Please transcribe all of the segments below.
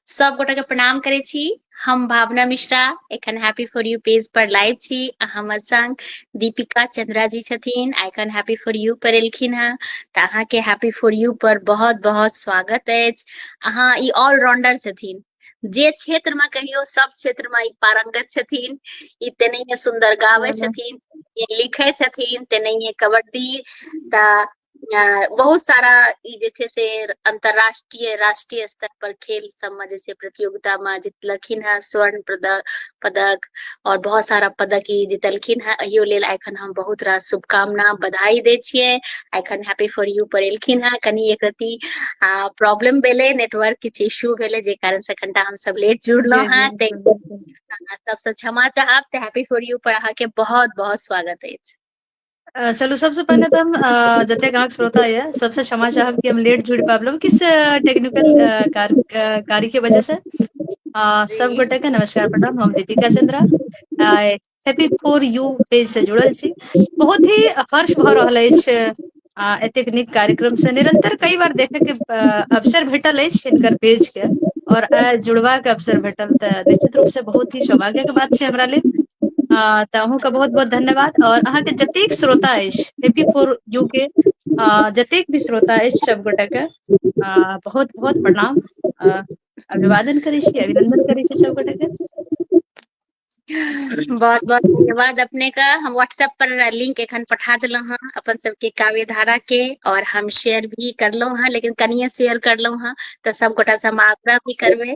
सब गोटा के प्रणाम करे छी हम भावना मिश्रा एखन हैप्पी फॉर यू पेज पर लाइव छी आ हमर संग दीपिका चंद्रा जी छथिन आ एखन हैप्पी फॉर यू पर एलखिन हैं तऽ अहाँ के हैप्पी फॉर यू पर बहुत बहुत स्वागत अछि अहाँ ई ऑलराउंडर छथिन जे क्षेत्र में कहियो सब क्षेत्र में ई पारंगत छथिन ई तेनाहिये सुंदर गाबै छथिन तेनाहिये लिखै छथिन तेनाहिये कबड्डी तऽ बहुत सारा ई जे छै से अंतर्राष्ट्रीय राष्ट्रीय स्तर पर खेल सबमे जे छै प्रतियोगिता मे जीतलखिन हेँ स्वर्ण पदक पदक और बहुत सारा पदक ई जीतलखिन हेँ अहियो लेल एखन हम बहुत रास शुभकामना बधाई दै छियै एखन हैप्पी फॉर यू पर एलखिन हेँ कनि एक रति प्रॉब्लम भेलै नेटवर्क किछु इश्यू भेलै जे कारण से कनिटा हम सब लेट जुड़लहुँ हेँ ताहि सबसँ क्षमा चाहब तऽ हैप्पी फॉर यू पर अहाँके बहुत बहुत स्वागत अछि अ, चलू सबसँ पहिने तऽ हम अ, जतेक अहाँके श्रोता यए सबसँ क्षमा चाहब कि हम लेट जुड़ि पाबलहुँ किस टेक्निकल अ, कार, अ, कार्य के वजह से अ, सब जी गोटे के नमस्कार प्रणाम हम दीपिका चंद्रा आइ हैप्पी फोर यू पेज से जुड़ल छी बहुत ही हर्ष भऽ रहल अछि आ एतेक नीक कार्यक्रम से निरंतर कई बार देखे के अ, अवसर भेटल अछि हिनकर पेज के और आइ जुड़बाक अवसर भेटल तऽ निश्चित रूप से बहुत ही सौभाग्य के बात छै हमरा लेल हँ तऽ अहूँके बहुत बहुत धन्यवाद आओर अहाँके जतेक श्रोता अछि हेपी फोर यू के अ जतेक भी श्रोता अछि सब गोटे के अ बहुत बहुत प्रणाम अ अभिवादन करै छी अभिनन्दन करै छी सब गोटे के बहुत बहुत धन्यवाद अपने के हम व्हाट्सऐप पर लिंक एखन पठा देलौ हँ अपन सब के काव्य धारा के और हम शेयर भी करलहुं हें लेकिन कनिये शेयर करलहुं हें तऽ सबगोटा से हम आग्रह भी करबै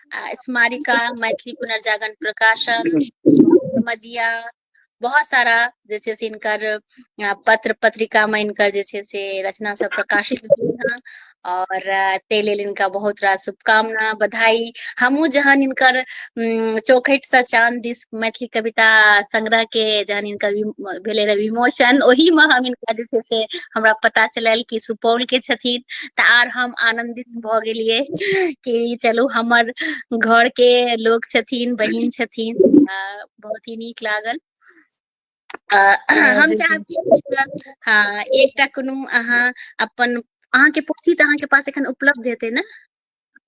स्मारिका मैथिली पुनर्जागरण प्रकाशन मदिया बहुत सारा जे छै से इनकर पत्र पत्रिका में इनकर जे छै से रचना सब प्रकाशित भेल हँ और ताहि लेल इनका बहुत रास शुभकामना बधाई हमहूँ जहन इनकर चौखटि से चाँद दिस मैथिली कविता संग्रह के जहन हिनकर विम- भेलै रहे विमोचन ओही में हम हिनका जे छै से हमरा पता चलल कि सुपौल के छथिन तऽ आर हम आनंदित भऽ गेलियै कि चलू हमर घर के लोग छथिन बहिन छथिन आ बहुत ही नीक लागल आ, हम जी। चाहब कि एकटा- हँ एकटा कोनो अहाँ अपन अहाँके पोथी तऽ अहाँके पास एखन उपलब्ध हेतै ने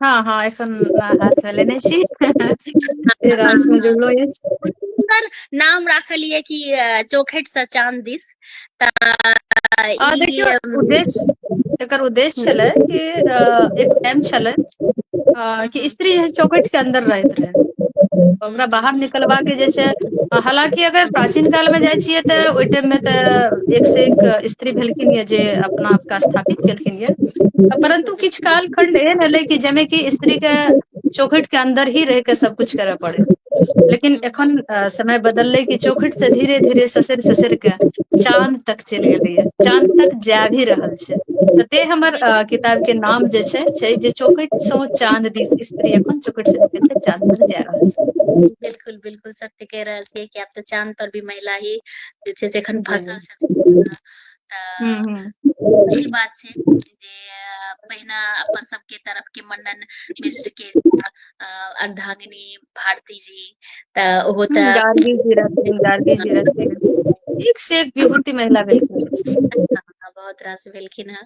हँ हँ एखन हाथ मे लेने छी फेर आइ स जुड़लो अछि सुन्दर नाम राखलियै कि चौखट स चान दिस तऽ आ देखियौ ई उद्देश्य एकर उद्देश्य छलै कि अ एक टाइम छलै अ कि स्त्री जे चौकठ के अन्दर रहैत रहै तऽ ओकरा बाहर निकलबा के जे छै हालाँकि अगर प्राचीन काल मे जाइ छियै तऽ ओहि टाइम मे तऽ एक से एक स्त्री भेलखिन य जे अपना आपके स्थापित केलखिन यए परन्तु किछु काल खण्ड एहन एलै कि जाहिमे कि स्त्री के चौखटि के अन्दर ही रहि कऽ सभकुछ करय पड़य लेकिन एखन समय बदललै कि चौखटि से धीरे धीरे ससरि ससरि कऽ चाँद तक चलि गेलैए चाँद तक जाय भी रहल छै तऽ ते हमर किताब के नाम जे छै छै जे चौकटि स चाँद दिस स्त्री एखन चौकटि से निकलि कऽ चाँद तक जाय रहल छै बिलकुल बिलकुल सत्य कहि रहल छियै कि आब तऽ चाँद पर भी महिला ही जे छै से एखन जी जी फसल छथिन तऽ बात छै जे पहिना अपन सबके तरफ के मंडन मिश्र के अर्धांगिनी भारती जी तऽ ओहो तऽ गार्गी जी रहथिन गार्गी जी रहथिन एक से एक विभूति महिला भेलखिन बहुत रास भेलखिन हँ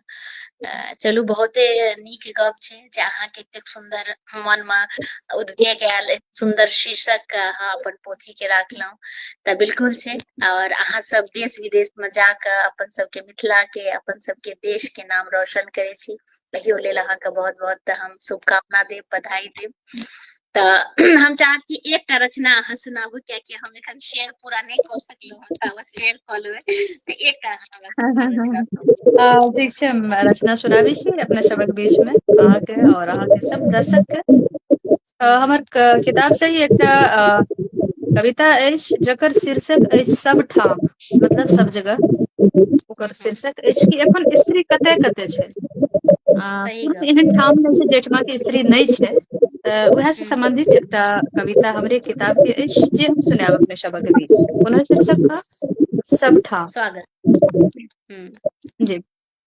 तऽ चलू बहुते नीक गप छै जे अहाँके एतेक सुन्दर मन मे उद्वेग आयल सुन्दर शीर्षक अहाँ अपन पोथी के राखलहुँ तऽ बिल्कुल छै और अहाँ सब देश विदेश में जाके अपन सबके मिथिला के अपन सबके देश के नाम रोशन करे छी तहियो लेल अहाँ के बहुत बहुत हम शुभकामना देब बधाई देब तऽ हम चाहब कि एकटा रचना अहाँ सुनाबू कियाकि हम एखन शेयर पूरा नहि कऽ सकलहुँ हँ तऽ बस शेयर कऽ लेबै तऽ एकटा ठीक छै रचना सुनाबी छी अपने सबक बीच में अहाँके और अहाँके सब दर्शक के अ हमर क किताब से ही एकटा अ कविता अछि जकर शीर्षक अछि सभ ठाम मतलब सब जगह ओकर हँ शीर्षक अछि कि एखन स्त्री कतय कतय छै आ सही कोनो गप एहन ठाम नहि छै जहिठमा के स्त्री नहि छै त उएह से हूँ सम्बंधित एकटा कविता हमरे किताब के अछि जे हम सुनायब अपने सबक बीच पुनः शीर्षक ह सबठाम स्वागत हूँ जी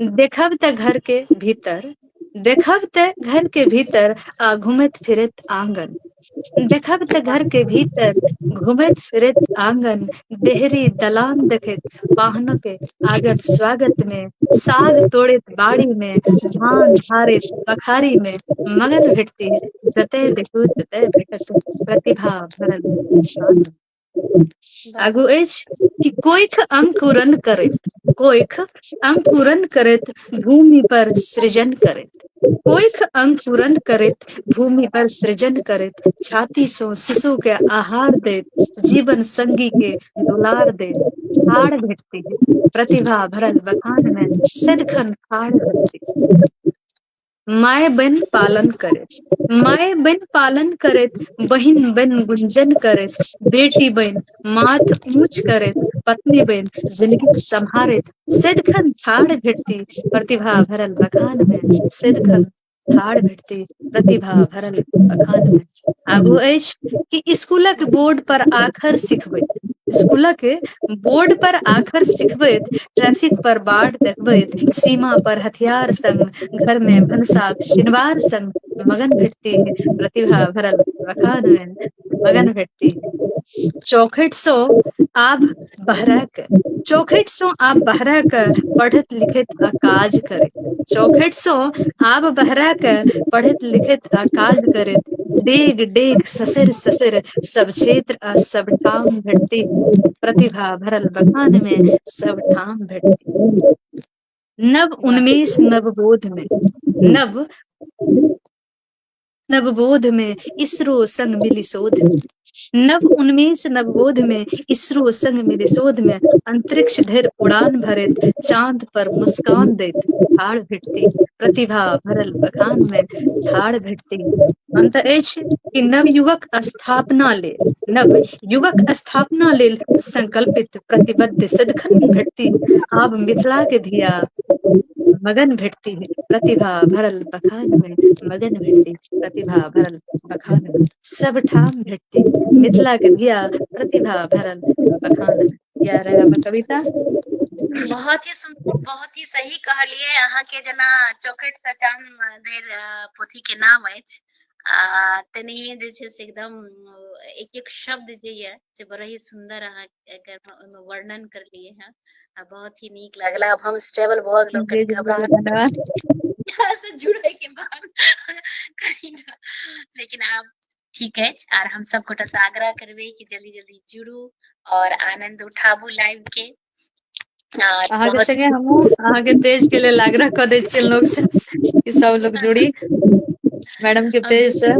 देखब तऽ घर के भीतर देखब ते घर के भीतर आ घूमैत फिरैत आंगन देखब तऽ घर के भीतर घूमैत फिरैत आंगन देहरी दलान देखैत पाहना के आगत स्वागत मे साग तोड़ैत बाड़ी मे धान झाड़ैत बखारी मे मगन भेटती जतय देखू ततय भेटत प्रतिभा भरल स्वागत आगू अछि कि कोइख अंकुरन करैत कोइख अंकुरन करैत भूमि पर सृजन करैत कोइख अंकुरन करैत भूमि पर सृजन करैत छाती सो शिशु के आहार दैत जीवन संगी के दुलार दैत ठाढ़ भेटती प्रतिभा भरल बखान में सदखन ठाढ़ भेटती माय बहिन पालन करैत माय बहिन पालन करैत बहिन बहिन गुंजन करैत बेटी बहिन माथ ऊँच करैत पत्नी बहिन जिनगी सम्हारैत सदिखन ठाढ़ भेटती प्रतिभा भरल बखान मे सदिखन ठार भेटती प्रतिभा भरल बखान मे आगू हूँ अछि कि इसकुलक बोर्ड पर आखर सिखबै स्कूलक बोर्ड पर आखर सिखबैत ट्रैफिक पर बाढ़ देखबैत सीमा पर हथियार संग घर मे भनसा शिनवार सन मगन भेटती है प्रतिभा भरल मखान मे मगन भेटती है चौखट स आब बहरक चौखट सो आब बहरक पढ़ैत लिखैत आ काज करै चौखट सो आब बहरा के पढ़ैत लिखैत आ काज करैत डेग डेग ससैर ससैर सब क्षेत्र आ सब ठाम भेटती प्रतिभा भरल बखान मे सब ठाम भेटती नव वाह उन्मेष नवबोधमे नव नवबोध मे इसरो संग मिली शोध मे नव उन्मेष नवबोध मे इसरो संग मिली शोध मे अंतरिक्ष धरि उड़ान भरैत चाँद पर मुस्कान दैत ठार भेटती प्रतिभा भरल बखान मे ठार भेटती अन्त अछि कि नवयुवक स्थापना लेल नव युगक स्थापना लेल संकल्पित प्रतिबद्ध सदखन घटती आब मिथिला के धिया मगन भेटती है प्रतिभा भरल बखान मे मगन भेटती प्रतिभा भरल बखान मे सबठाम भेटती मिथिला के धिया प्रतिभा भरल बखान मे इएह रहै हमर कविता बहुत ही सुन बहुत ही सही कहलियै अहाँके जेना चौखट से चान धरि पोथी के नाम अछि आ तेनाहिए जे छै से एकदम एक एक शब्द जे यऽ से बड़ा ही सुन्दर अहाँ एकर ओहिमे वर्णन करलियै हँ आ बहुत ही नीक लागल आब हम स्टेबल भऽ गेलहुँ कनि घबराहट से जुड़ै के बाद कनिटा लेकिन आब ठीक अछि आर हम सब गोटा से आग्रह करबै कि जल्दी जल्दी जुड़ू और आनंद उठाबू लाइव के आ अहाँके बहुत संगे हमहुँ अहाँके पेज के लेल आग्रह कऽ दै छियनि लोग से कि सब लोग जुड़ी मैडम के हम पेज से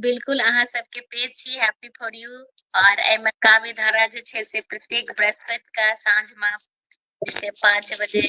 बिलकुल अहाँ सबके पेज छी हैप्पी फॉर यू और एहिमे काव्य धारा जे छै से प्रत्येक बृहस्पति के साँझ मे से पाँच बजे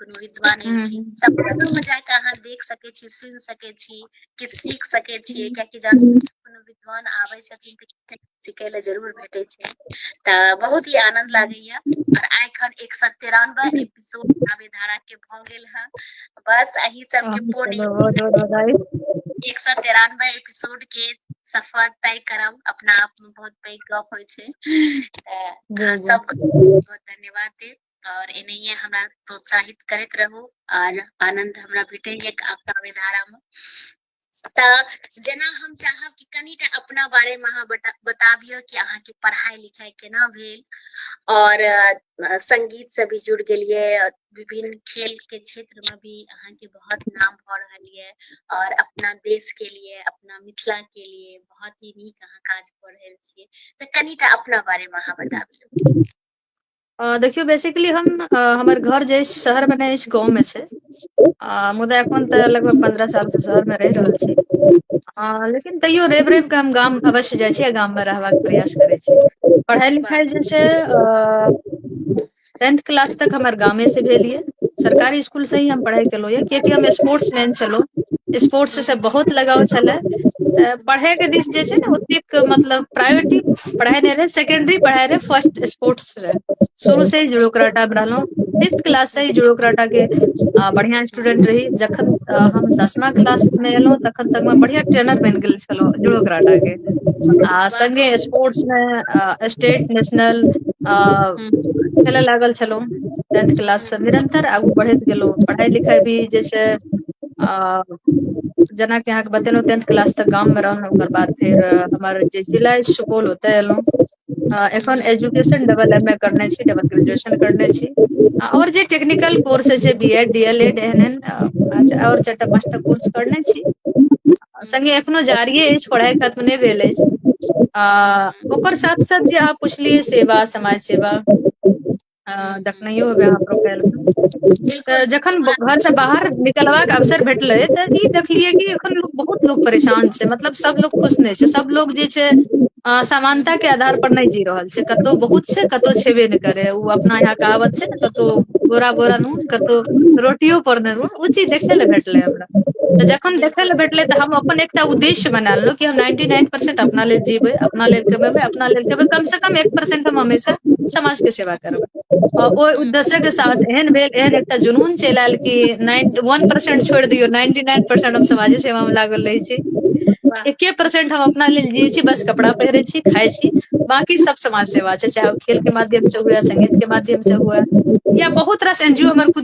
कोनो विद्वान हूँ एलखिन हूँ त बादो में जाक अहाँ देख सकै छी सुनि सकै छी किछ सीख सकै छियै कियाकि जहन कोनो विद्वान आबै छथिन तऽ सिखय लए जरूर भेटै छै तऽ बहुत ही आनंद लागैया और आइखन एक सए तिरानबे एपिसोड काव्य धारा के भऽ गेल हे बस अही सबके हँ पूर्ण चलो बहुत बहुत बधाई एक सए तिरानबे एपिसोड के सफर तय करब अपना आप मे बहुत पैघ गप होइ छै तऽ अहाँ जी जी सबके बहुत बहुत धन्यवाद देब और एनहिए हमरा प्रोत्साहित करैत रहू और आनंद हमरा भेटैए काव्य धारा में तऽ जेना हम चाहब कि कनिटा अपना बारे में अहाँ बताबियो कि अहाँ के पढ़ाई लिखाई केना भेल और संगीत से भी जुड़ गेलिए और विभिन्न खेल के क्षेत्र में भी अहाँ के बहुत नाम भऽ रहल ये और अपना देश के लिए अपना मिथिला के लिए बहुत ही नीक अहाँ काज कऽ रहल छियै तऽ कनिटा अपना बारे में अहाँ बताबियो अ देखियौ बेसिकली हम अ हमर घर जे अछि शहर मे नहि अछि गाँंव मे छै आ मुदा एखन तऽ लगभग पन्द्रह साल से शहर मे रहि रहल छी हँ लेकिन तैयो रवि रवि कऽ हम गाम अवश्य जाइ छी आ गाम मे रहबाक प्रयास करै छी पढ़ाई लिखाई जे छै अ टेंथ क्लास तक हमर गामे से भेल ये सरकारी स्कुल से ही हम पढ़ाइ केलहुँ यए कियकि हम स्पोर्ट्स मैन छलहुँ स्पोर्ट्स से बहुत लगाव छलै तऽ पढ़यके दिस जे छै ने ओतेक मतलब प्रायोरिटी पढ़ाइ नहि रहै सेकेंड्री पढ़ाइ रहै फर्स्ट स्पोर्ट्स रहै शुरू से जुड़ो कराटा मे रहलहु फिफ्थ क्लास से जुड़ो कराटा के आ बढ़िया स्टूडेंट रही जखन हम दसमा क्लास मे एलहुँ तखन तक मे बढ़िया ट्रेनर बनि गेल छलहुँ जुडो कराटा के आ संगे स्पोर्ट्स मे स्टेट नेशनल आ खेल लागल छलहु टेंथ क्लास से निरंतर आगू बढ़ैत गेलहुँ पढ़ाई लिखाई भी जे छै आ जेनाकि अहाँके बतेलहुँ टेंथ क्लास तक गाममे रहलहुँ ओकर बाद फेर हमर जे जिला सुपौल ओतय एलहुँ आ एखन एजुकेशन डबल एम ए करने छी डबल ग्रेजुएशन करने छी आ आओर जे टेक्निकल कोर्स होइ छै B Ed D El Ed एहन एहन आओर चारिटा पाँचटा कोर्स करने छी हूँ संगे एखनो जारिये अछि पढ़ाइ खत्म नहि भेल अछि आ हूँ ओकर साथ साथ जे अहाँ पुछलियै सेवा समाज सेवा अ हूँ हूँ देखनयो हेबई अहाँ प्रोफाइल मे तऽ बिल्कुल बिल्कुल जखन हमरा घर से बाहर निकलबाक अवसर भेटलै तऽ ई देखलियै कि एखन लोक बहुत लोक परेशान छै मतलब सब लोग खुश नहि छै सब लोग जे छै अ हूँ समानता के आधार पर नहि जी रहल छै कतौ बहुत छै कतौ छेबे नहि करे ओ अपना यहा कहावत छै ने कतौ बोरा बोरा नून कतौ रोटियो पर नून ओ चीज देखे ले भेटले हमरा तऽ जखन देखय बिलकुल लए भेटलै तऽ हम अपन एकटा उद्देश्य बना लेलहुँ कि हम नाइन्टी नाइन परसेंट अपना लेल जीबै अपना लेल कमेबै अपना लेल खेबै कम से कम एक परसेंट हम हमेशा समाज के सेवा करबै आ ओहि हूँ उद्देश्यक के साथ एहन भेल एहन एकटा जुनून चलि आयल कि नाइन वन परसेंट छोड़ि दियौ नाइन्टी नाइन परसेंट हम समाजे सेवा मे लागल रहै छी वाह एके परसेंट हम अपना लेल जियै छी बस कपड़ा पहिरै छी खाय छी बाँकी सब समाज सेवा छै चाहे ओ खेल के माध्यम से हुए संगीत के माध्यम से हुए या बहुत रास एन जी ओ हमर खुद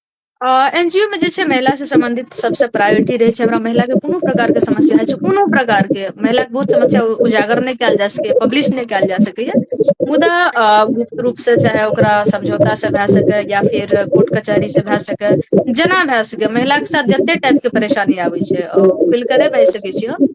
एन जी ओ मे जे छै महिला से सम्बंधित सबसँ प्रायोरिटी रहै छै हमरा महिला के कोनो प्रकार के समस्या होइ छै कोनो प्रकार के महिला के बहुत समस्या उजागर नहि कयल जा सकैए पब्लिश नहि कयल जा सकैए मुदा गुप्त रूप से चाहे ओकरा समझौता से भए सकै या फिर कोर्ट कचहरी से भए सकै जेना भए सकै महिलाके साथ जते टाइप के परेशानी आबै छै खुल कऽ नहि बाजि सकै छियै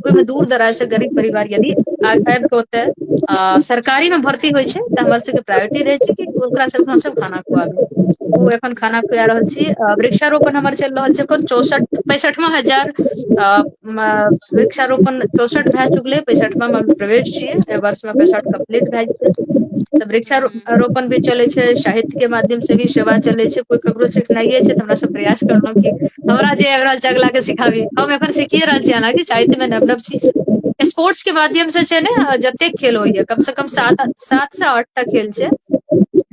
ओहिमे दूर दराज से गरीब परिवार यदि आबि कऽ ओते अ सरकारी मे भर्ती होइ छै तऽ हमर सबके प्रायोरिटी रहै छै कि ओकरा सबके हमसभ खाना खुआबी ओ एखन खाना खुआ रहल छी वृक्षारोपण हमर चलि रहल छै एखन चौसठ पैंसठवा हजार अ वृक्षारोपण चौसठ भए चुकलै पैंसठवामे प्रवेश छियै एहि वर्षमे पैंसठ कम्प्लीट भए जेतै तऽ वृक्षारोपण रोपण भी चले छै साहित्य के माध्यम से भी सेवा चले छै कोइ ककरो सिखनाये छै तऽ हमरा सब प्रयास करलों की हमरा जे आबि रहल छै अगिला के सिखाबी हम एखन सीखिए रहल छी हालाँकि साहित्य मे नवनव छी स्पोर्ट्स के माध्यम से छै ने जतेक खेल होइया कम से कम सात सात से आठ टा खेल छै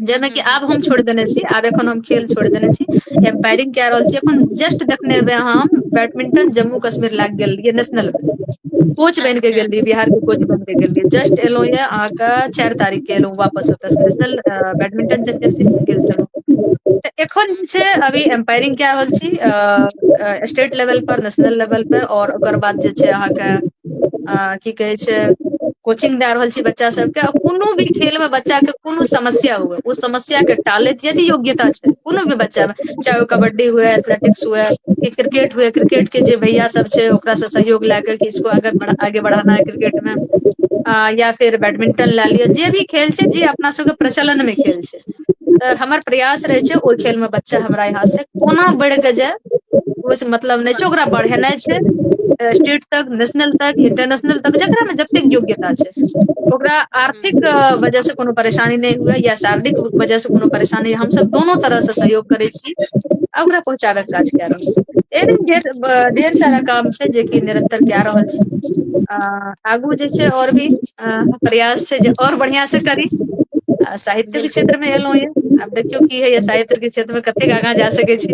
जाहिमे कि आब हम छोड़ देने छी आब एखन हम खेल छोड़ देने छी एम्पायरिंग कए रहल छी अपन जस्ट देखने हेबै अहाँ हम बैडमिंटन जम्मू कश्मीर लए कऽ गेल रहियै नेशनल मे कोच बन के अच्छा गेल रहियै बिहार के कोच बन के गेल रहियै जस्ट एलहु ये अहाँके चारि तारीख के एलहुँ वापस ओतयसँ नेशनल बैडमिंटन चैम्पियनशिप गेल छलहुँ तऽ एखन जे छै अच्छा अभी एम्पायरिंग कए रहल छी अ स्टेट लेवल पर नेशनल लेवल पर आओर ओकर बाद जे छै अहाँके अ की कहै छै कोचिंग दए रहल छी बच्चा सबके आ कोनो भी खेल मे बच्चा के कोनो समस्या हुए ओ समस्या के टालैत यदि योग्यता छै कोनो भी बच्चा मे चाहे ओ कबड्डी हुए एथलेटिक्स हुए कि क्रिकेट हुए क्रिकेट के जे भैया सब छै ओकरा सब सहयोग लए क कि इसको आगे आगे बढ़ाना है क्रिकेट मे या फेर बैडमिंटन लए लिअ जे भी खेल छै जे अपना सबके प्रचलन मे खेल छै तऽ हमर प्रयास रहै छै ओहि खेल मे बच्चा हमरा यहाँ से कोना बढ़ि के जाय ओहिस मतलब नहि छै ओकरा बढ़ेनाइ छै स्टेट तक नेशनल तक इंटरनेशनल तक जकरामे जतेक योग्यता छै ओकरा आर्थिक वजह से कोनो परेशानी नहि हुए या शारीरिक वजह से कोनो परेशानी हम सब दुनू तरह से सहयोग करै छी आ ओकरा पहुँचाबै के काज कए रहल छी एहन ढेर ढेर सारा काम छै जेकि निरंतर कए रहल छी आ आगू जे छै आओर भी प्रयास छै जे आओर बढ़ियाँ से करी आ साहित्य के बिलकुल क्षेत्र मे एलौं ये आब देखियौ की होइये साहित्य के क्षेत्र मे कतेक आगाँ जा सकै छी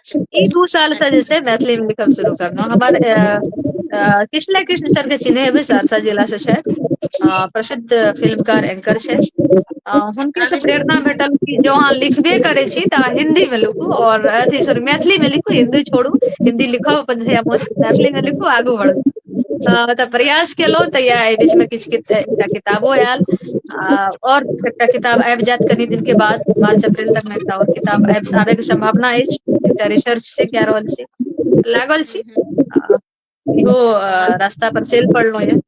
ई दू सालसँ जे छै मैथिलीमे लिखब शुरू करलहुँ हमर कृष्ण ने कृष्ण सर के चिन्है हेबै सहरसा जिला से छथि अ प्रसिद्ध फिल्मकार एंकर छै अ हुनके से प्रेरणा भेटल कि जो अहाँ लिखबे करै छी तऽ अहाँ हिन्दी मे लूखू आओर अथी सॉरी मैथिली मे लिखू हिन्दी छोड़ू हिन्दी लिखब अपन जहिया मोन मैथिली मे लिखू आगू बढ़ू हँ तऽ प्रयास केलहुँ तऽ इएह एहि बीचमे किछु एकटा किताबो आयल आ आओर एकटा किताब आबि जायत कनि दिनके बाद मार्च अप्रल तक मे एकटा आओर किताब आबैके सम्भावना अछि एकटा रिसर्च से कए रहल छी लागल छी आ इहो बहुत रास्ता पर चलि पड़लहु ये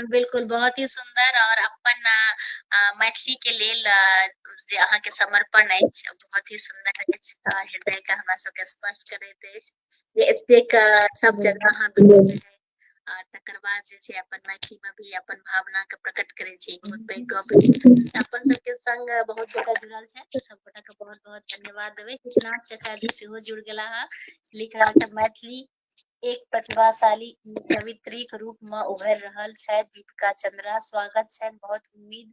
बिलकुल बहुत ही सुन्दर आओर अपन मैथिली के लेल जे अहाँके समर्पण अछि बहुत ही सुन्दर अछि हृदय के हमरा सबके स्पर्श करैत अछि जे एतेक सब जगह अहाँ बिजोड़ने है आर तकर बाद जे छै अपन मैथिली मे भी अपन भावना के प्रकट करे छी बहुत पैघ गप अपन सबके संग बहुत गोटा जुड़ल छै तऽ सब गोटा के बहुत बहुत धन्यवाद देबे कृष्णा चाचा जी सेहो जुड़ गेला हँ लिख रहल छै मैथिली एक प्रतिभाशाली ई कवित्रीक रूप में उभर रहल छै दीपिका चंद्रा स्वागत छै बहुत उम्मीद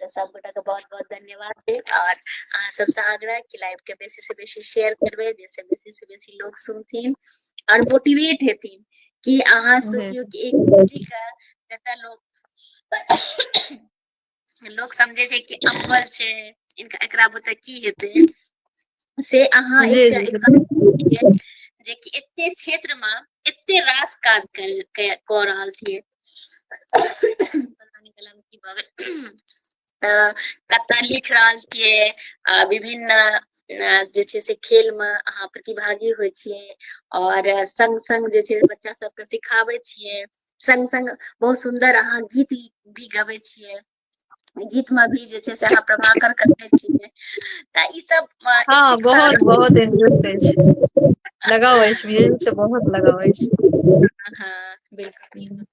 तऽ सब गोटा के बहुत बहुत धन्यवाद देब और अहाँ सबसे आग्रह कि लाइव के बेसी से बेसी शेयर करबे जैसे बेसी से बेसी लोग सुनथिन और मोटिवेट हेथिन कि अहाँ सोचियो कि एक बेटी के जतऽ लोग लोग समझे छै कि अव्वल छै इनका एकरा बुते की हेतै से अहाँ जी, एक जी, example छियै जे कि एते क्षेत्र मे एते रास काज कर- क- कऽ रहल छियै पता नहीं गला में की भऽ गेल अ, कविता लिख रहल छियै आ विभिन्न अ, जे छै से खेल मे अहाँ प्रतिभागी होइ छियै और संग संग जे छै बच्चा सबके सिखाबै छियै संग संग बहुत सुंदर अहाँ गीत भी गबै छियै गीत में भी जे छै से अहाँ प्रभाकर करने छियै तऽ ई सब हँ बहुत बहुत इंटरेस्ट अछि लगाव अछि म्यूजिक से बहुत लगाव अछि हँ बिलकुल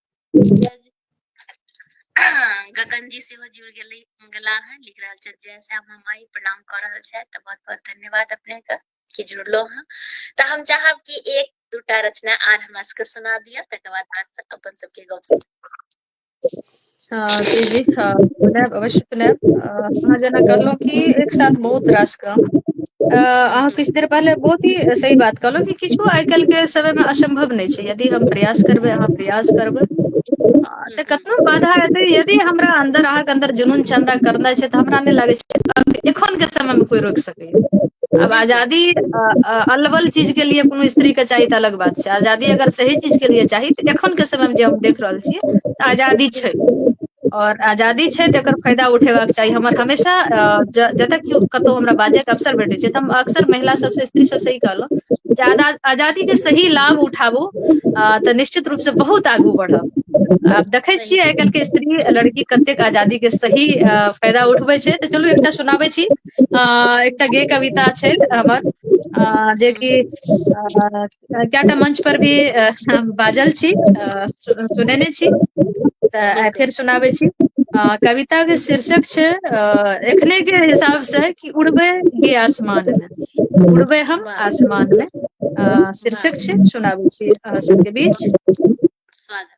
गगन जी सेहो जुड़ गेली गेला हन लिख रहल छथि जय श्याम माई माइ प्रणाम कऽ रहल छथि तऽ बहुत बहुत धन्यवाद अपने के कि जुड़लो हँ तऽ हम चाहब कि एक दूटा रचना आर हमरा सबके सुना दिअ तकर बाद अपन सबके गप जी जी पुनः अवश्य पुनः अहाँ जेना कहलहुँ कि एक साथ बहुत रास काम अ अहाँ हूँ किछु देर पहिले बहुत ही सही बात कहलहुँ कि किछु आइ काल्हि के समय मे असम्भव नहि छै यदि हम प्रयास करबै अहाँ प्रयास करबै हूँ तऽ हूँ कखनो बाधा एतै यदि हमरा अन्दर अहाँके अन्दर जुनून छै हमरा करनाइ छै तऽ हमरा नहि लागै छै एखन के समय मे कोइ रोकि सकै आब आजादी अलवल चीज के लिए कोनो स्त्री के चाही तऽ अलग बात छै आजादी अगर सही चीज के लिए चाही तऽ एखन के समय मे जे हम देख रहल छियै तऽ आजादी छै और आजादी छै तऽ एकर फायदा उठेबाक चाही हमर हमेशा जतय केओ कतहु हमरा बाजय अवसर भेटै छै तऽ हम अक्सर महिला सबसँ स्त्री सबसँ ई कहलहुँ जे आ आजादी के सही लाभ उठाबू अ तऽ निश्चित रूप से बहुत आगू बढ़ब आब देखै सही छियै आइ बात काल्हि के स्त्री लड़की कतेक आजादी के सही फायदा उठबै छै तऽ चलू एकटा सुनाबै छी अ एकटा गे कविता छै हमर अ हूँ जेकि अ कएटा मंच पर भी बाजल छी अ सुनेने छी तऽ आइ बिल्कुल फेर सुनाबै छी अ कविता के शीर्षक छै अ एखने के हिसाब से कि उड़बे गे आसमान मे उड़बे हम वाह आसमान मे अ वाह शीर्षक छै सुनाबै छी अहाँ सबके बीच स्वागत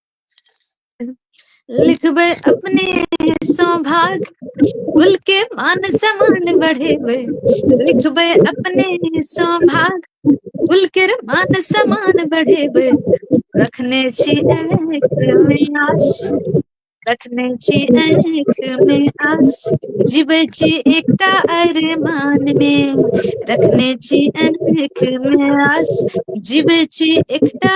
लिखबै अपने सौभाग भूल के मान सम्मान बढ़ेबै लिखबै अपने सौभाग भूल के मान सम्मान बढ़ेबै रखने छी आस रखने छी आँख में आस जीवे छी एकटा अरे मान में रखने छी आँख में आस जीवे छी एकटा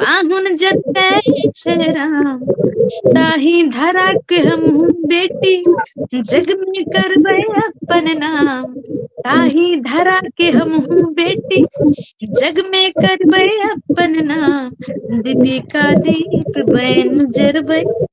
पाहुन जतय छै राम ताहि धरा के हमहु बेटी जग मे करबै अपन नाम ताहि धरा के हमहु बेटी जग मे करबै अपन नाम दीपि का दीप बयन जरबै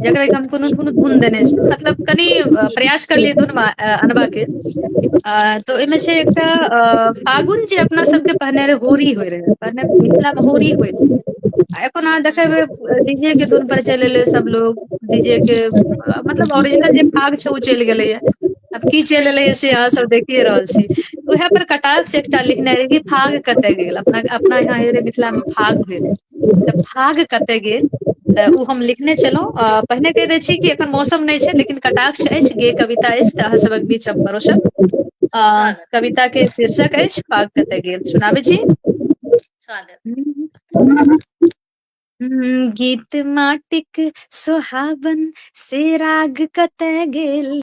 जकरा हम कोनो ने कोनो गुन देने छी मतलब कनि प्रयास करलियै धुन अनबाके अ तऽ ओहिमे छै एकटा अ फागुन जे अपना सबके पहिने रे होरी होय रहै पहिने मिथिला मे होरी होय रहै आ एखन अहाँ देखबै डी जे के धुन पर चलि एलै सब लोग डी जे के मतलब ओरिजिनल जे भाग छै ओ चलि गेलैए आब की चलि एलै से अहाँ सब देखिए रहल छी उएह पर कटाक्ष एकटा लिखने रहै कि फाग कतय गेल अपना अपना यहाँ हे रे मिथिला मे फाग होइ रहै तऽ भाग कतय गेल तऽ ओ हम लिखने छलहुँ अ पहिने कहि दै छी कि एखन मौसम नहि छै लेकिन कटाक्ष अछि गे कविता अछि तऽ अहाँ सभक बीच हम परोसब अ स्वागत कविता के शीर्षक अछि पाग कतऽ गेल सुनाबै छी स्वागत हूं गीत माटिक सोहाबन से राग कतय गेल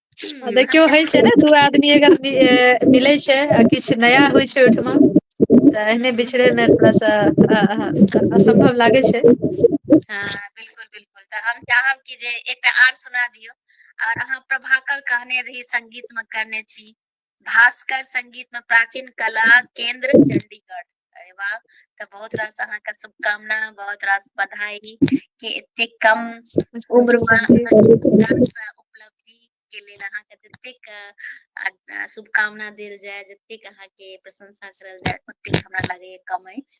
आ हूँ देखियौ होइ छै ने दू आदमी अगर मिलै छै आ किछु नया होइ छै ओहिठमा तऽ एहिने हूँ बिछड़े मे थोड़ा सा असम्भव लागे छै हँ बिलकुल बिलकुल तऽ हम चाहब कि जे एकटा आर सुना दियौ आओर अहाँ प्रभाकर कहने रही संगीत मे करने छी भास्कर संगीत में प्राचीन कला केंद्र चंडीगढ़ अरे वाह तऽ बहुत रास अहाँके शुभकामना बहुत रास बधाई कि एते कम उम्र में उपलब्धि के लेल अहाँके जतेक अ, अ, शुभकामना देल जाय जतेक अहाँके प्रशंसा करल जाय ओतेक हमरा लागैए कम अछि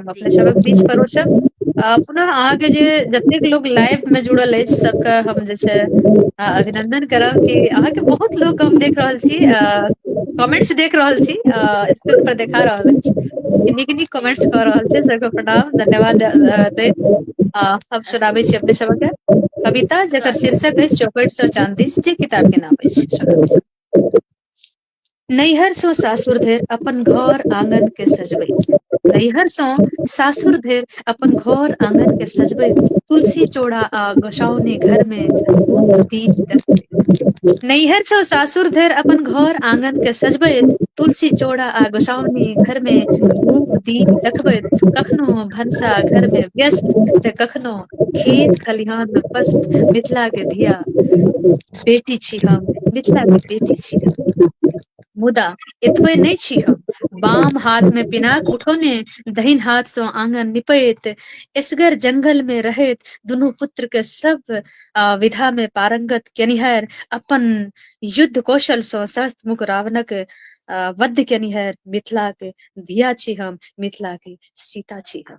जी अपने सबहक बीच परोरसब आ पुनः अहाँके जे जतेक लोक लाइफ मे जुड़ल अछि सबके हम जे छै आ अभिनन्दन करब कि अहाँके बहुत लोक हम देख रहल छी अ कमेंट्स देख रहल छी अ स्क्रीन पर देखा रहल अछि कि नीक नीक जी कमेंट्स कऽ रहल छै सबके प्रणाम धन्यवाद दैत आ हम सुनाबै छी अपने सबके कविता जकर स्वागत शीर्षक अछि चौकठ सए चाँदीस जे किताब के नाम अछि सुनाबय छी नैहरसँ सासुर धरि अपन घर आगन के सजबैत नैहरसँ सासुर धरि अपन घर आगन के सजबैत तुलसी चौड़ा आ गोसाावनी घर मे धूप दीप देखबैत नैहरसँ सासुर धरि अपन घर आगन के सजबैत तुलसी चौड़ा आ गोसावनी घर मे धूप दीप देखबैत कखनो भनसा घर मे व्यस्त तऽ कखनो खेत खलिहान मे पस्त मिथिला के धिया बेटी छी हम मिथिला के बेटी छी हम मुदा एतबे नहि छी हम बाम हाथ मे पिनाक उठौने दहिन हाथ सँ आगन निपैत एसगर जंगल मे रहैत दुनू पुत्र के सब आ विधा मे पारंगत केनिहार अपन युद्ध कौशल सँ सहस मुख रावणक अ वद्य केनिहार मिथिलाक धिया छी हम मिथिलाक सीता छी हम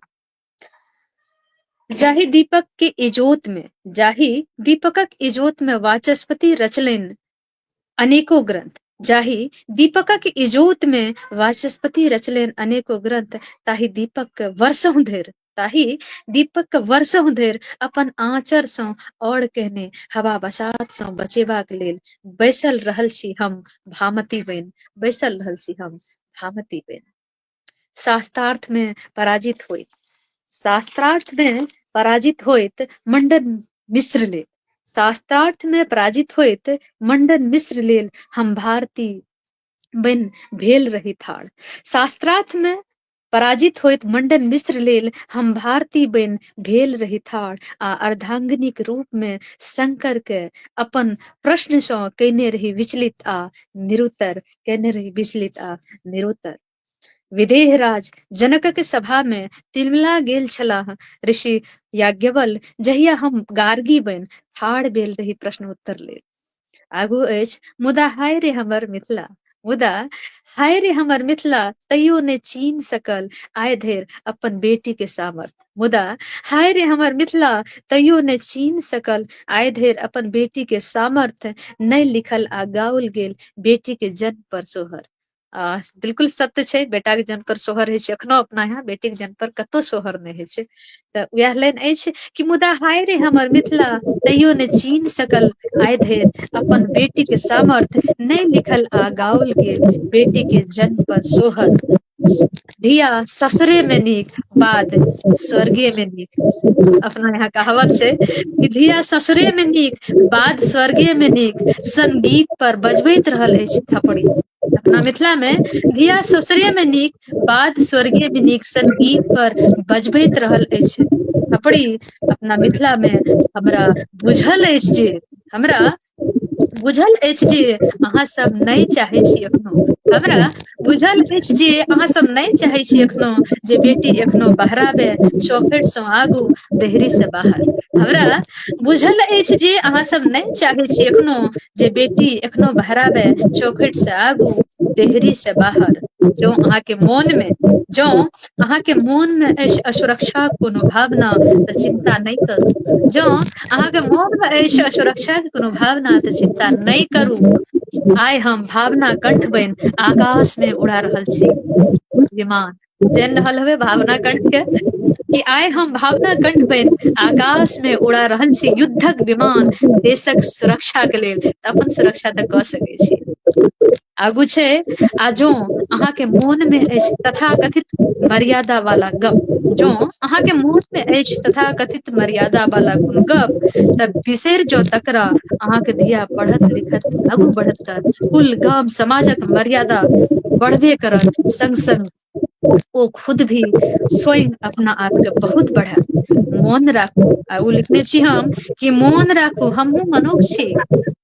जाहि दीपक के इजोत में जाहि दीपकक इजोत में वाचस्पति रचलनि अनेको ग्रंथ जाहि दीपकक इजोत में वाचस्पति रचलनि अनेको ग्रंथ ताहि दीपक वर्षों धरि ताहि दीपक वर्षों धरि अपन आँचर सँ और कहने हवा बसात सँ बचेबाक लेल बैसल रहल छी हम भामती बनि बैसल रहल छी हम भामती बनि शास्त्रार्थ में पराजित होइत शास्त्रार्थ में पराजित होइत मंडन मिश्र लेल शास्त्रार्थ में पराजित होइत मंडन मिश्र लेल हम भारती बन भेल रही थाड़ शास्त्रार्थ में पराजित होइत मंडन मिश्र लेल हम भारती बन भेल रही थाड़ आ अर्धांगिनीक रूप में शंकर के अपन प्रश्न सँ कैने रही विचलित आ निरुत्तर केने रही विचलित आ निरुत्तर विदेहराज जनकक सभा मे तिलमिला गेल छलाह ऋषि याज्ञवल जहिया हम गार्गी बनि ठाढ़ भेल रही प्रश्न उत्तर लेल आगू अछि मुदा हाय रे हमर मिथिला मुदा हाय रे हमर मिथिला तैयो ने चीन सकल आय धरि अपन बेटी के सामर्थ्य मुदा हाय रे हमर मिथिला तैयो नहि चीन सकल आय धरि अपन बेटी के सामर्थ्य नहि लिखल आ गाओल गेल बेटी के जन्म पर सोहर आ बिल्कुल सत्य छै बेटाक जन्म पर सोहर होइ छै एखनो अपना यहाँ बेटीक जन्म पर कतौ सोहर नहि होइ छै तऽ उएह लाइन अछि कि मुदा हाय रे हमर मिथिला तैयो ने चीन सकल आय धरि अपन बेटी के सामर्थ्य नहि लिखल आ गाओल गेल बेटी के जन्म पर सोहर धिया ससुरे मे नीक बाद स्वर्गे मे नीक अपना यहाँ कहावत छै कि धिया ससुरे मे नीक बाद स्वर्गे मे नीक संगीत पर बजबैत रहल अछि थपड़ी अपना मिथिला मे धिया ससुरे मे नीक बाद स्वर्गीय मे नीक संगीत पर बजबैत रहल अछि थपड़ी अपना मिथिला मे हमरा बुझल अछि जे हमरा बुझल अछि जे अहाँ सब नहि चाहै छी एखनो हमरा बुझल अछि जे अहाँ सब नहि चाहै छी एखनो जे बेटी एखनो बहराबे चौखट सँ आगू देहरी से बाहर हमरा बुझल अछि जे अहाँ सब नहि चाहै छी एखनो जे बेटी एखनो बहराबे चौखट से आगू देहरी से बाहर जँ अहाँके मोन मे जँ अहाँके मोन मे अछि असुरक्षा कोनो भावना तऽ चिन्ता नहि करू जँ अहाँके मोन मे अछि असुरक्षा के कोनो भावना तऽ चिन्ता नहि करू आइ हम भावना कंठ बन आकाश मे उड़ा रहल छी विमान जानि रहल हेबै भावना कंठ के कि आइ हम भावना कंठ बन आकाश मे उड़ा रहल छी युद्धक विमान देशक सुरक्षा के लेल तऽ अपन सुरक्षा तऽ कऽ सकैत छी आगू छै आ जों अहाँके मोनमे अछि तथा कथित मर्यादा वाला गप जों अहाँके मोन मे अछि तथा कथित मर्यादा वाला कोनो गप तऽ बिसरि जौ तकरा अहाँके धिया पढ़त लिखत आगू बढ़त तऽ कुल गाम समाजक मर्यादा बढ़बे करत संग संग ओ खुद भी स्वयं अपना आपके बहुत बढ़ा मोन राखू आ ओ लिखने छी हम कि मोन राखू हमहुँ मनुष्य छी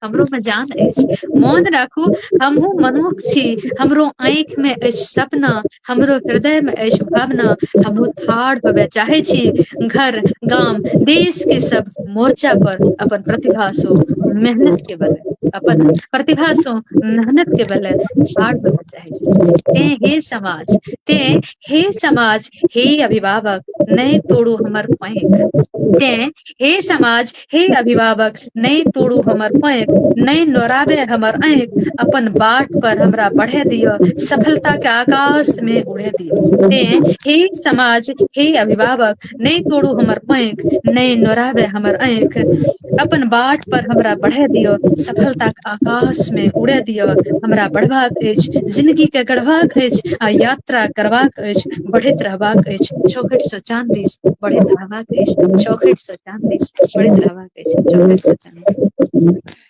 हमरो मे जान अछि मोन राखू हमहुँ मनुष्य छी हमरो आँखि मे अछि सपना हमरो हृदय मे अछि भावना हमहुँ ठाढ़ होबय चाहै छी घर गाम देश के सब मोर्चा पर अपन प्रतिभा सँ मेहनत के बल अपन प्रतिभासँ मेहनत के बल ठाढ़ होबय चाहै छी रहै छै ते हे समाज ते हे समाज हे अभिभावक नहि तोड़ू हमर पैक ते हे समाज हे अभिभावक नहि तोड़ू हमर पैक नहि लोड़ाबे हमर ऐक अपन बाट पर हमरा बढ़े दिअ सफलता के आकाश मे उड़े दियऔ ते हे समाज हे अभिभावक नहि तोड़ू हमर पैंख नहि नोराबे हमर ऐख अपन बाट पर हमरा बढ़े दियअ सफलता के आकाश मे उड़े दियअ हमरा बढ़बाक अछि जिनगी के गढ़बाक अछि आ यात्रा करबाक अछि बढ़ैत रहबाक अछि चौखट से चान दिस बढ़ैत रहबाक अछि चौखट से चान दिस बढ़ैत रहबाक अछि चौखट से चान दिस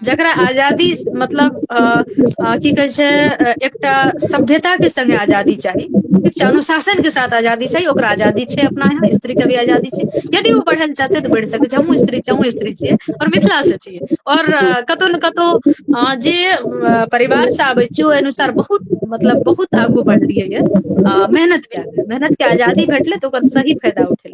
जकरा आजादी मतलब अ की कहै छै एकटा सभ्यता के संगे आजादी चाही ठीक छै अनुशासन के साथ आजादी छै ओकरा आजादी छै अपना यहाँ स्त्री के भी आजादी छै यदि ओ बढ़ै लए चाहतै तऽ बढ़ि सकै छै हमूँ स्त्री छियै अहूँ स्त्री छियै आओर मिथिला से छियै आओर कतहु ने कतहु अ जे परिवार से आबै छी ओहि अनुसार बहुत मतलब बहुत आगू बढ़लियै य आ मेहनत कए कऽ मेहनत के आजादी भेटलै तऽ ओकर सही फायदा उठेलकै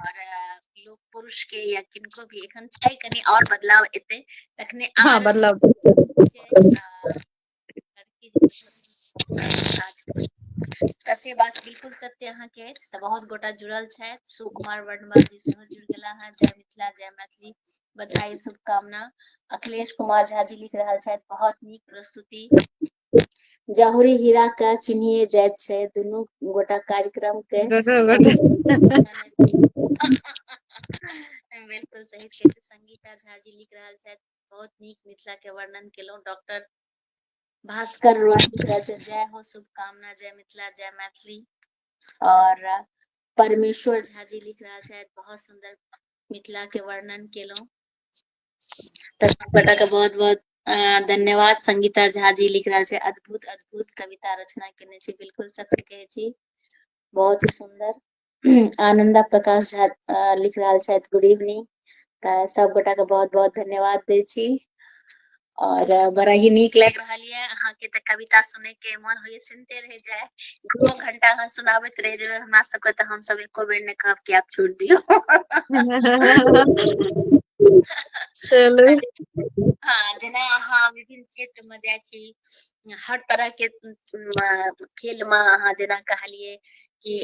और लोग पुरुष के या किनको भी एखन छै कनी और बदलाव एते तखने हां बदलाव तऽ से बात बिल्कुल सत्य अहाँ के अछि तऽ बहुत गोटा जुड़ल छथि सुकुमार वर्णवाल जी सेहो जुड़ गेला हँ जय मिथिला जय मैथिली बधाई शुभकामना अखिलेश कुमार झा जी लिख रहल छथि बहुत नीक प्रस्तुति जहुरी हीरा के चिन्हिए जाइत छै दुनू गोटा कार्यक्रम के बिल्कुल सही छै संगीता झा जी लिख रहल छथि बहुत नीक मिथिला के वर्णन केलहुँ डॉक्टर भास्कर रोहिका जय हो शुभकामना जय मिथिला जय मैथिली और परमेश्वर झा जी लिख रहा है बहुत सुंदर मिथिला के वर्णन केलहुँ तऽ गोटा के बहुत बहुत अ धन्यवाद संगीता झा जी लिख रहल छै अद्भुत अद्भुत कविता रचना केने छी बिलकुल सत्य कहै छी बहुत ही सुन्दर आनन्दा प्रकाश झा लिख रहल छथि गुड इवनिंग तऽ सबगोटा के बहुत बहुत धन्यवाद दै छी और बड़ा ही नीक लागि रहल ये अहाँ के तऽ कविता सुनै के मन होइये सुनते रह जाए दू घंटा हम सुनाबैत रह जेबै हमरा सबके तऽ हमसब एको बेर नहि कहब कि आप छोड़ दियो चलू हाँ जेना अहाँ विभिन्न क्षेत्र में जाइ छी हर तरह के खेल में अहाँ जेना कहलिए कि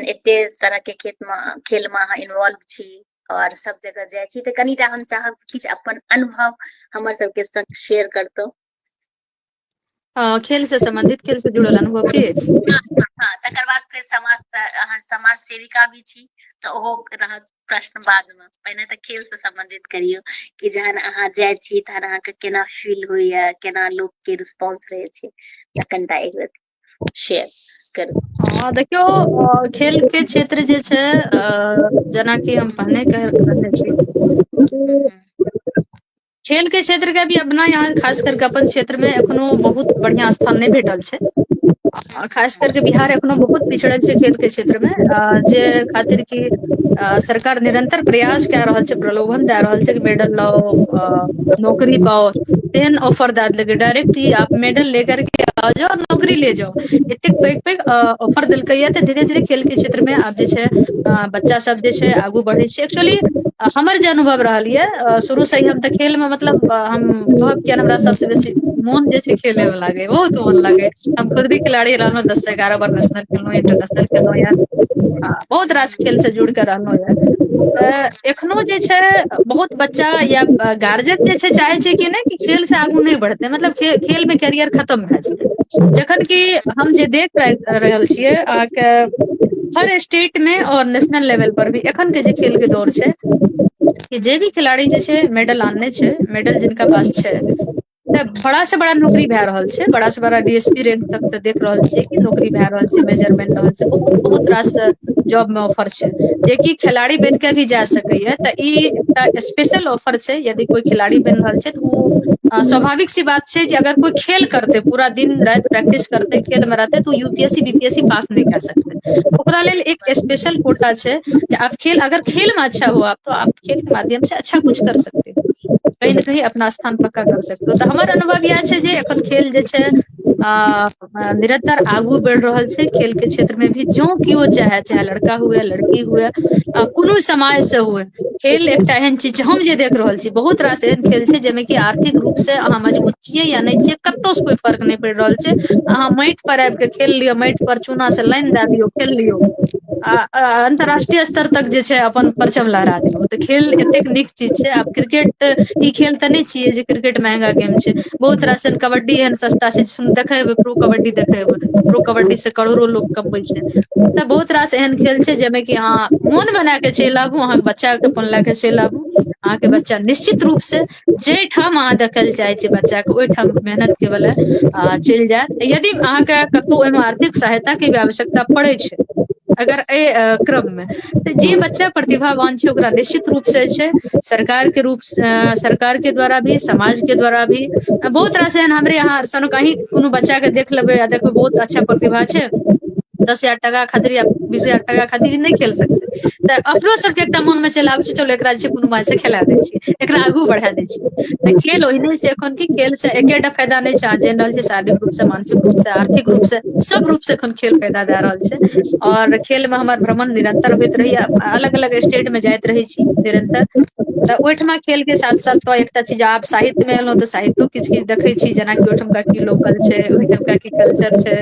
एते तरह के खेत में खेल में अहाँ इन्वॉल्व छी और सब जगह जाइ छी तऽ कनिटा हम चाहब किछु अपन अनुभव हमर सबके संग शेयर करतौ हँ खेल से सम्बन्धित खेल से जुड़ल अनुभव की हँ तकर बाद फेर समाज त अहाँ समाज सेविका भी छी तऽ ओहो रहत प्रश्न बाद मे पहिने तऽ खेल से सम्बंधित करियौ कि जहन अहाँ जाइ छी तहन अहाँके केना फील होइया केना लोक के रिस्पोंस रहै छै त कनिटा एक रति शेयर करू हँ देखियौ खेल के क्षेत्र जे छै अ जेनाकि हम पहिने कह कहने छी हूँ हूँ खेल के क्षेत्र के भी अपना यहाँ खास कर के अपन क्षेत्र मे एखनो बहुत बढ़िया स्थान नहि भेटल छै आ खास करके बिहार एखनो बहुत पिछड़ल छै खेल के क्षेत्र मे अ जे खातिर की अ सरकार निरंतर प्रयास कए रहल छै प्रलोभन दए रहल छै कि मेडल लाउ अ नौकरी पाओ तेहन ऑफर दए देलकै डायरेक्ट ई आप मेडल ले करके आ जाओ और नौकरी ले जाओ एतेक पैघ पैघ ऑफर देलकै या तऽ धीरे धीरे खेल के क्षेत्र मे आब जे छै अ बच्चा सब जे छै आगू बढ़ै छै एक्चुअली हमर जे अनुभव रहल ये अ शुरू से हम तऽ खेल मे मतलब हम कहब किय हमरा सबस बेसी मोन जे छै खेले मे लागे बहुत मोन लागे हम खुद भी खिलाड़ी रहलहुँ दस से एगारह बार नेशनल खेलहुँ इंटरनेशनल खेलहुँ ये आ बहुत रास खेल से जुड़ कऽ रहलहु ये तऽ एखनो जे छै बहुत बच्चा या गार्जियन जे छै चाहै छै कि नहि खेल से आगू नहि बढ़तै मतलब खे खेल मे कैरियर खतम भए जेतै जखन कि हम जे देख रहल छियै अहाँके हर स्टेट मे और नेशनल लेवल पर भी एखन के जे खेल के दौर छै कि जे भी खेलाड़ी जे छै मेडल आनने छै मेडल जिनका पास छै तऽ बड़ा से बड़ा नौकरी भए रहल छै बड़ा से बड़ा डी एस पी रैंक तक तऽ देख रहल छियै कि नौकरी भए रहल छै मेजर बनि रहल छै बहुत बहुत रास जॉब मे ऑफर छै जेकि खेलाड़ी बनि कऽ भी जा सकैए तऽ ई एकटा स्पेशल ऑफर छै यदि कोइ खेलाड़ी बनि रहल छै तऽ ओ स्वाभाविक सी बात छै जे अगर कोइ खेल करतै पूरा दिन राति प्रैक्टिस करतै खेल मे रहतै तऽ ओ U P S C B P S C pass नहि कए सकतै ओकरा लेल एक स्पेशल कोटा छै जे आब खेल अगर खेल मे अच्छा हुआ तो आप खेल के माध्यम से अच्छा कुछ कर सकते हो कही ने कही अपना स्थान पक्का कर सकते हो तऽ हमर अनुभव इएह छै जे एखन खेल जे छै अ निरंतर आगू बढ़ि रहल छै खेल के क्षेत्र मे भी जो किओ चाहे चाहे लड़का हुए लड़की हुए आ कोनो समाज से हुए खेल एकटा एहन चीज छै हम जे देख रहल छी बहुत रास एहन खेल छै जाहिमे कि आर्थिक रूप से अहाँ मजबूत छियै या नहि छियै कतहु से कोइ फर्क नहि पड़ि रहल छै अहाँ माटि पर आब कऽ खेल लिअ माटि पर चूना से लाइन दए दियौ खेल लियौ आ अन्तर्राष्ट्रीय स्तर तक जे छै अपन परचम लहरा दियौ तऽ खेल एतेक नीक चीज छै आब क्रिकेट ई खेल तऽ नहि छियै जे क्रिकेट महंगा गेम छै बहुत रास एन कबड्डी एहन सस्ता छै देखे हेबै प्रो कबड्डी देखे हेबै प्रो कबड्डी से करोड़ो लोग कमबै छै तऽ बहुत रास एहन खेल छै जाहिमे कि अहाँ मोन बना कऽ चलि आबू अहाँके बच्चाके अपन लए कऽ चलि आबू अहाँके बच्चा निश्चित रूप से जाहि ठाम अहाँ देखल जाइ छै बच्चा के ओहि ठाम मेहनत के बला आ चलि जायत यदि अहाँके कतहु ओहिमे आर्थिक सहायता के भी आवश्यकता पड़ै छै अगर एहि क्रममे तऽ जे बच्चा प्रतिभावान छै ओकरा निश्चित रूप से जे छै सरकार के रूप सरकार के द्वारा भी समाज के द्वारा भी बहुत रास एहन हमरे यहाँ कोनो बच्चा के देख लेबै आ देखबै बहुत अच्छा प्रतिभा छै दस हजार टाका खातिर या बीस हजार टाका खातिर ई नहि खेल सकतै तऽ अपनो सबके एकटा मोन मे चलि आबै छै चल एकरा जे छै कोनो माय से खेला दै छियै एकरा आगू बढ़ा दै छियै तऽ खेल ओहिने छै एखन कि खेल से एकेटा फायदा नहि छै अहाँ जानि रहल छियै शारीरिक रूप से मानसिक रूप से आर्थिक रूप से सब रूप से एखन खेल फायदा दए रहल छै आओर खेल मे हमर भ्रमण निरन्तर होइत रहैया अलग अलग स्टेट मे जाइत रहै छी निरन्तर तऽ ओहिठमा खेल के साथ साथ तो एकटा चीज आब साहित्य मे एलहुँ तऽ साहित्यो किछु किछु देखै छी जेनाकि ओहिठामका की लोकल छै ओहिठामका की कल्चर छै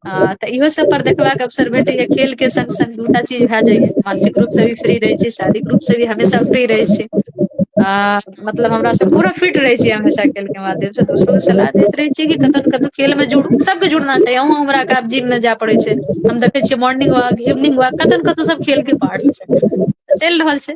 हँ तऽ इहो सब पर देखबाक अवसर भेटैया खेल के संग संग दूटा चीज भए जाइया मानसिक रूप से भी फ्री रहै छै शारीरिक रूप से भी हमेशा फ्री रहै छै आ मतलब हमरा सब पूरा फिट रहै छियै हमेशा खेल के माध्यम से दोसरो के सलाह दैत रहै छियै कि कतौ ने कतौ खेल मे जुड़ू सबके जुड़ना चाही अहूँ हमरा के आब जिम मे जाय पड़ै छै हम देखै छियै मोर्निंग वाक इवनिंग वाक कतौ ने कतौ सब खेल के पार्ट्स छै चलि रहल छै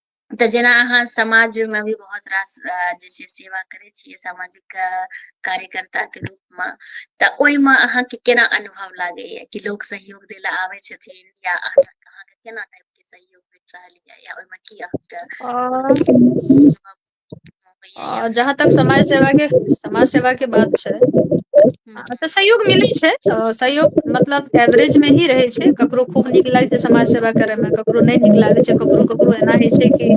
तऽ जेना अहाँ समाजमे भी बहुत रास जे छै सेवा करै छियै सामाजिक कार्यकर्ता के रूप मे तऽ ओहिमे अहाँके केना अनुभव लागैया कि लोक सहयोग दै लए आबै छथिन या अहाँके केना टाइप के सहयोग भेट रहल या या ओहिमे की अहाँके आ जहाँ तक समाज सेवा के समाज सेवा के बात छै हूँ तऽ सहयोग मिलै छै सहयोग मतलब एवरेज मे ही रहै छै ककरो खूब नीक लागै छै समाज सेवा करे मे ककरो नहि नीक लागै छै ककरो ककरो एना होइ छै कि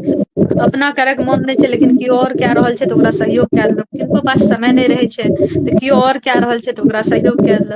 अपना करैके मन नहि छै लेकिन केओ आओर कए रहल छै तऽ ओकरा सहयोग कए देलक किनको पास समय नहि रहै छै तऽ केओ आओर कए रहल छै तऽ ओकरा सहयोग कए देलक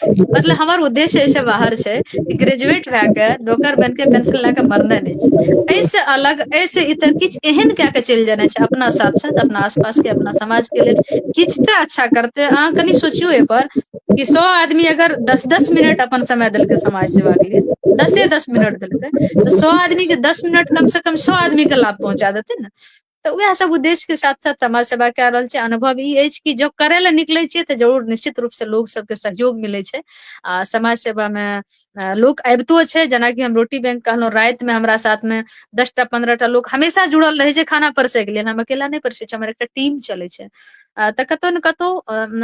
मतलब हमर उद्देश्य एहिस बाहर छै कि ग्रेजुएट भए के नौकर बन के पेंशन लए के मरनाइ नहि छै एहिसँ अलग एहिसँ इतर किछु एहन कए कऽ चलि जेनाइ छै अपना साथ साथ अपना आस पास के अपना समाज के लेल किछु तऽ अच्छा करतै अहाँ कनि सोचियौ एहिपर कि सौ आदमी अगर दस दस मिनट अपन समय देलकै समाज सेवा के लिए दसे दस मिनट देलकै तऽ सौ आदमी के दस मिनट कम से कम सौ आदमी के लाभ पहुँचा देतै ने तऽ उएह सब उद्देश्य के साथ साथ समाज सेवा क रहल छै अनुभव ई अछि कि जब करय लए निकलै छियै तऽ जरूर निश्चित रूप से लोग सबके सहयोग मिलै छै आ समाज सेवा मे लोक अबितो छै जेनाकि हम रोटी बैंक कहलहुँ रातिमे हमरा साथमे दसटा पन्द्रह टा लोक हमेशा जुड़ल रहै छै खाना परसैके लेल हम अकेला नहि परसै छी हमर एकटा टीम चलै छै अ तऽ कतौ ने कतौ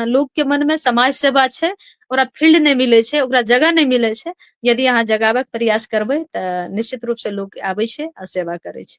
लोक के मन मे समाज सेवा छै ओकरा फील्ड नहि मिलै छै ओकरा जगह नहि मिलै छै यदि अहाँ जगाबय के प्रयास करबै तऽ निश्चित रूप से लोक आबै छै आ सेवा करै छै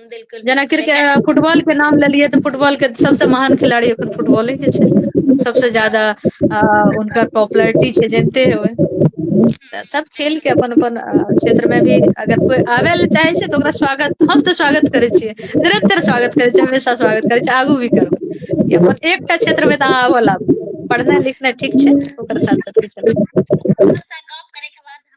देलकै जेना लोकके क्रिके एगारह फुटबॉल के नाम लेलियै तऽ फुटबॉल के सबसँ महान खेलाड़ी एखन फुटबॉले के छै सबसँ ज्यादा आ हुनकर पॉपुलरिटी छै जनिते हेबै तऽ सब खेल के अपन अपन क्षेत्र मे भी अगर कोइ आबै लए चाहै छै तऽ ओकरा स्वागत हम तऽ स्वागत करै छियै निरंतर स्वागत करै छियै हमेशा स्वागत करै छियै आगू भी करबै कि अपन एकटा क्षेत्र मे तऽ अहाँ आबऽ लागू पढ़नाइ लिखनाइ ठीक छै ओकर साथ साथ भी चलत अहाँ सँ गप करैके बाद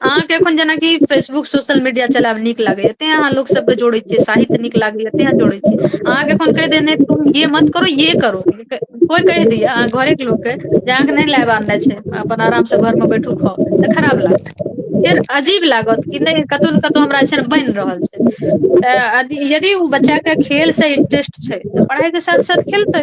अहाँके एखन जेनाकि फेसबुक सोशल मीडिया चलायब नीक लागैया तें अहाँ लोक सब के जोड़े छियै साहित्य नीक लागैया तें अहाँ जोड़े छियै अहाँ के एखन कहि देने तुम ये मत करो ये करो कोइ कहि दैया अहाँ घरे के लोकके जे अहाँके नहि लायब आननाइ छै अपन आराम से घर मे बैठू खाउ तऽ खराब लागत फेर अजीब लागत कि नहि कतौ ने कतौ हमरा एहिसन बनि रहल छै तऽ यदि ओ बच्चाके खेलसँ इंट्रेस्ट छै तऽ पढ़ाइके साथ साथ खेलतै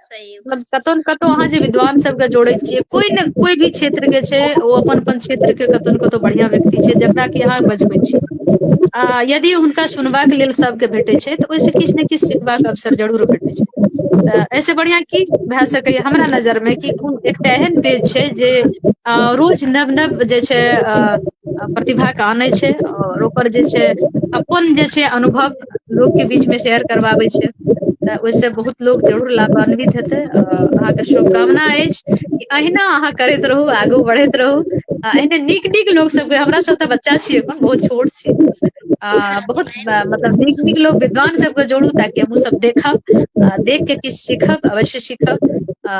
सही मतलब कतहु ने कतहु अहाँ जे विद्वान सबके जोड़े छियै कोई ने कोई भी क्षेत्र के छै ओ अपन अपन क्षेत्र के कतहु ने कतहु बढ़ियां व्यक्ति छै जकरा कि अहाँ बजबै छी आ यदि हुनका सुनबाक लेल सभके भेटैत छै तऽ ओहिसँ किछु ने किछु सिखबाक अवसर जरूर भेटैत छै तऽ एहिसँ बढ़िआँ की भए सकैए हमरा नजरमे कि कोन एकटा एहन पेज छै जे अ रोज नव नव जे छै अ प्रतिभाके आनै छै आओर ओकर जे छै अपन जे छै अनुभव लोकके बीचमे शेयर करबाबै छै तऽ ओहिसँ बहुत लोक जरूर लावान्वित हेतै आ अहाँके शुभकामना अछि कि अहिना अहाँ करैत रहू आगू बढ़ैत रहू आ एहने नीक नीक लोक सबके हमरा सब तऽ बच्चा छियै एखन बहुत छोट छी आ बहुत मतलब नीक नीक लोग विद्वान सबके जोड़ू ताकि हमहु सब देखब आ देख के किछु सीखब अवश्य सीखब आ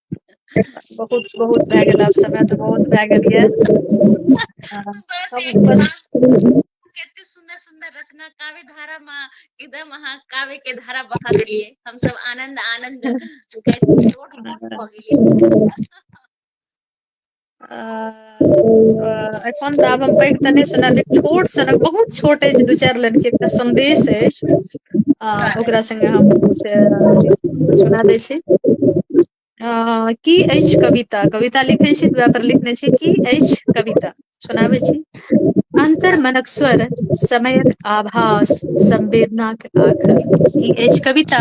बहुत बहुत भए गेल आब समय तऽ बहुत भए गेल यए ह हम बस कतेक सुन्दर सुन्दर रचना काव्य धारा मे एकदम अहाँ काव्य के धारा बहा देलियै हमस आनन्द आनन्द कहैत लोट पोट भऽ गेलियै आ अ एखन तऽ आब हम पैघ तऽ नहि सुनब जे छोट सनक बहुत छोट अछि दू चारि लाइन के एकटा सन्देश अछि आ ओकरा संगे हम से अथी सुना दै छी अ की अछि कविता कविता लिखै छी ओएह पर लिखने छी की अछि कविता सुनाबै छी अन्तर मनक स्वर समयक आभास संवेदनाक आखर ई अछि कविता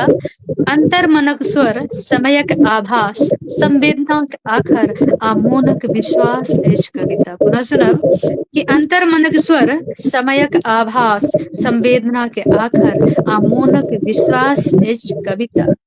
अन्तर मनक स्वर समयक आभास संवेदनाक आखर आ मोनक विश्वास अछि कविता पुनः सुनब कि अन्तर मनक स्वर समयक आभास संवेदना के आखर आ मोनक विश्वास अछि कविता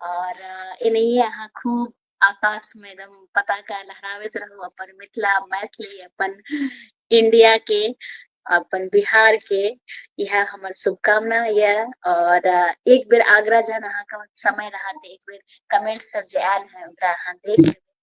और एनहिए अहाँ खूब आकाश में एकदम पताका लहरावत रहू अपन मिथिला मैथिली अपन इंडिया के अपन बिहार के यह हमर शुभकामना ये और एक बेर आग्रह जन अहाँ के समय रहत एक बेर कमेंट सब जे आयल है ओकरा अहाँ देख